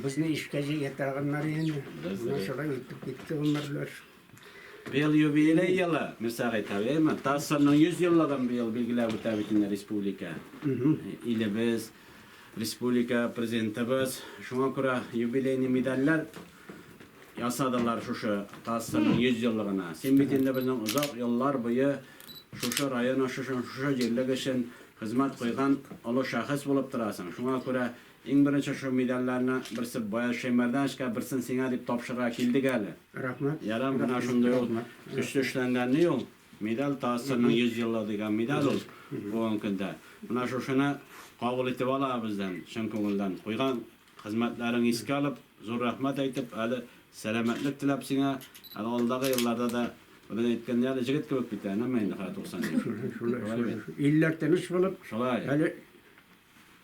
Безне ишкә җигә торганнар инде. Менә шулай үтеп китте гомерләр. Быел юбилей елы, Мирсәгыйть абый, әйме? ТАССРның 100 еллыгын быел билгеләп үтә бит инде республика. Илебез, республика Президентыбыз. Шуңа күрә юбилейный медальләр ясадылар шушы ТАССРның 100 еллыгына. Син бит инде безнең озак еллар буе шушы район өчен, шушы җирлек өчен хезмәт куйган олы шәхес булып торасың. Шуңа күрә Иң беренче шул медальләрне берсе Баяз Шәймәрдановичка, берсен сиңа дип тапшырырга килдек әле. Рәхмәт. Ярар, менә шундый ул көчле эшләнгән ни ул? Медаль, ТАССРның 100 еллыгы дигән медаль ул бүгенге көндә. Менә шушыны кабул итеп ал аңа бездән, чын күңелдән. Куйган хезмәтләрең искә алып, зур рәхмәт әйтеп, әле сәламәтлек теләп сиңа, әле алдагы елларда да, бүген әйткәндәй, әле җегет кебек бит, әнә менә инде хәзер 90 яшь. Шулай бит. Илләр тыныч булып, әле.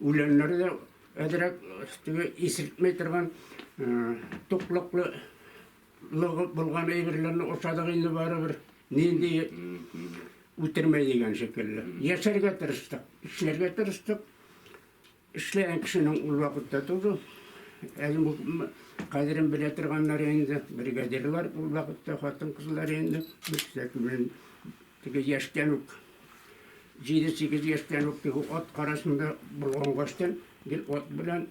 Үләннәре дә әзрәк теге исертмәй торган туклыклы лыгып булган әйберләрне ашадык инде барыбер. Нинди үтермәй дигән шикелле. Яшәргә тырыштык, эшләргә тырыштык. Эшләгән кешенең ул вакытта тоже кадерен белә торганнар инде, бригадирлар ул вакытта хатын-кызлар инде. Бик тә Сигез яшьтән үк, җиде-сигез яшьтән үк теге ат карасында болгангаштан гел ат белән,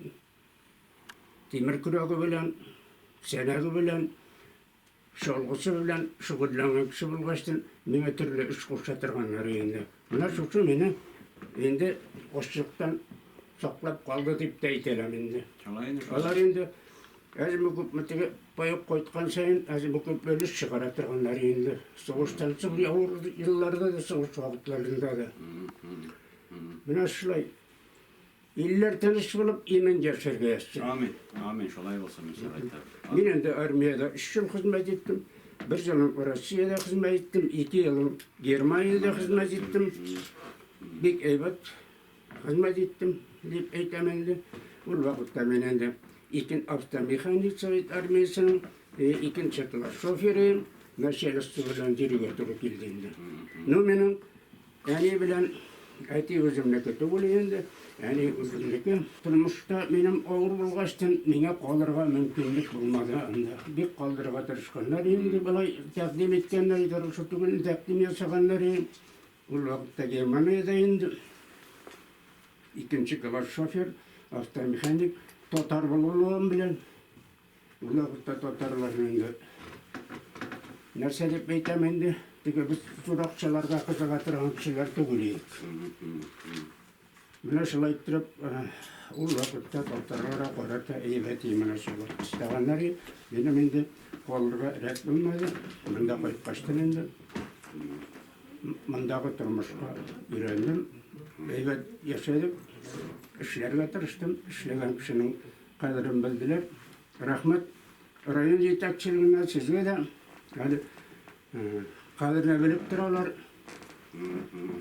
тимер көрәге белән, сәнәге белән, чалгысы белән шөгыльләнгән кеше булгачтын, миңа төрле эш куша торганнары инде. Менә шушы мине инде ачлыктан саклап калды дип тә әйтәләм инде. Алар инде Әзме-күпме теге паек кайткан саен, әзме-күпме өлеш чыгара торганнар инде. Сугыштан соң авыр елларда да, сугыш вакытларында да. Менә шулай. Илләр тыныч булып, имин яшәргә язсын. Амин. Амин. Шулай булсын, иншалла. Мин инде армиядә 3 ел хезмәт иттем. Бер елым Россиядә хезмәт иттем, ике елым Германиядә хезмәт иттем. Бик әйбәт. Хезмәт иттем, дип әйтәм инде. Ул вакытта мин инде икен автомеханик совет армиясенең э, икенче класс шоферы, начальство белән йөрергә туры килде инде. Ну, минем әни белән әти үземнеке түгел инде, әни үземнеке. Тормышта минем авыр булгачтын, миңа калырга мөмкинлек булмады анда. Бик калдырырга тырышканнар инде, былай тәкъдим иткәннәр иде, шул түгел тәкъдим ясаганнар инде. Ул вакытта Германиядә инде икенче класс шофер, автомеханик, татар булуым белән, ул вакытта татарларны инде нәрсә дип әйтәм инде, теге без туракчыларга кызыга торган кешеләр түгел идек. Менә шулай иттереп, ул вакытта татарлар да, карак та әйбәт и менә шулай. Эшләгәннәр и, минем инде калырга рәт булмады. Монда кайткачтын инде мондагы тормышка өйрәндем. Әйбәт яшәдек, эшләргә тырыштым, эшләгән кешенең кадерен белделәр. Рәхмәт район җитәкчелегенә, сезгә дә әле кадерне белеп торалар.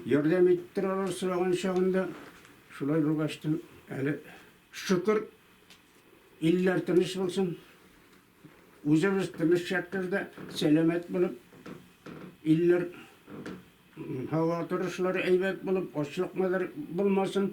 Ярдәм итеп торалар сораган чагында. Шулай булгач та, әле шөкер, илләр тыныч булсын. Үзебез тыныч шәһәрдә сәламәт булып, илләр һава торышлары әйбәт булып, ачлыкмадар булмасын.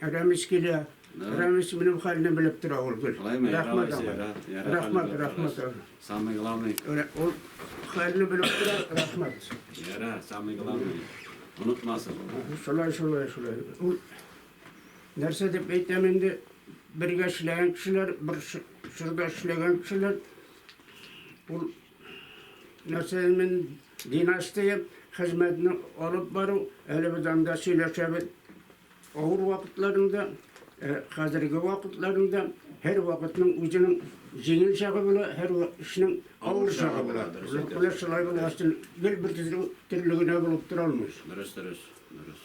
Рәмис килә. Рәмис минем хәлне белеп тора ул гел. Рәхмәт аңа. Рәхмәт, рәхмәт. Самый главный. Ул хәлне белеп тора, рәхмәт. Ярар, самый главный. Онытмасын. Шулай, шулай, шулай. Ул нәрсә дип әйтәм инде, бергә эшләгән кешеләр, бер чорда эшләгән кешеләр, ул Нәрсәмен династия хезмәтне алып бару, әле без анда сөйләшәбез. Авыр вакытларында, хәзерге вакытларында һәр вакытның үзенең җиңел чагы була, һәр эшнең авыр чагы була. Менә шулай булгач, гел бер төрле генә булып тора алмый. Дөрес, дөрес, дөрес.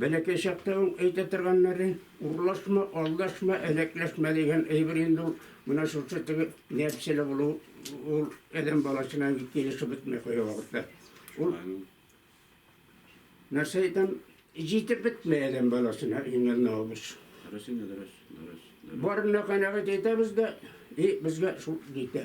Бәләкәй чакта ук әйтә торганнары, Урлашма, алдашма, әләкләшмә дигән әйбер инде ул. Менә шушы теге нәпселе булу ул адәм баласына инде килешеп бетми кая вакытта. Ул нәрсә әйтәм, җитеп бетми адәм баласына иңел набыз. Дөрес инде, дөрес, дөрес. Барына канәгать әйтәбез дә, и безгә шул җитә.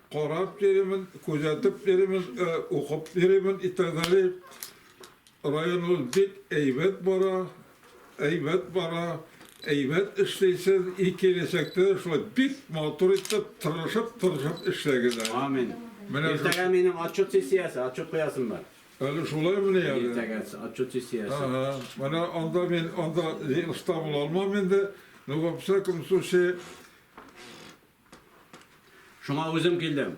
Карап йөримез, күзәтеп йөримез, укып йөримез и так далее. Районыбыз бик әйбәт бара, әйбәт бара, әйбәт эшлисез и киләчәктә дә шулай бик матур итеп, тырышып, тырышып эшләгез әле. Амин. Иртәгә минем отчет сессиясе, отчет куясым бар. Әле шулай мени әле? Иртәгә отчет сессиясе. Менә анда мин анда оста була алмам инде, но во всяком случае, Шуңа үзем килдем.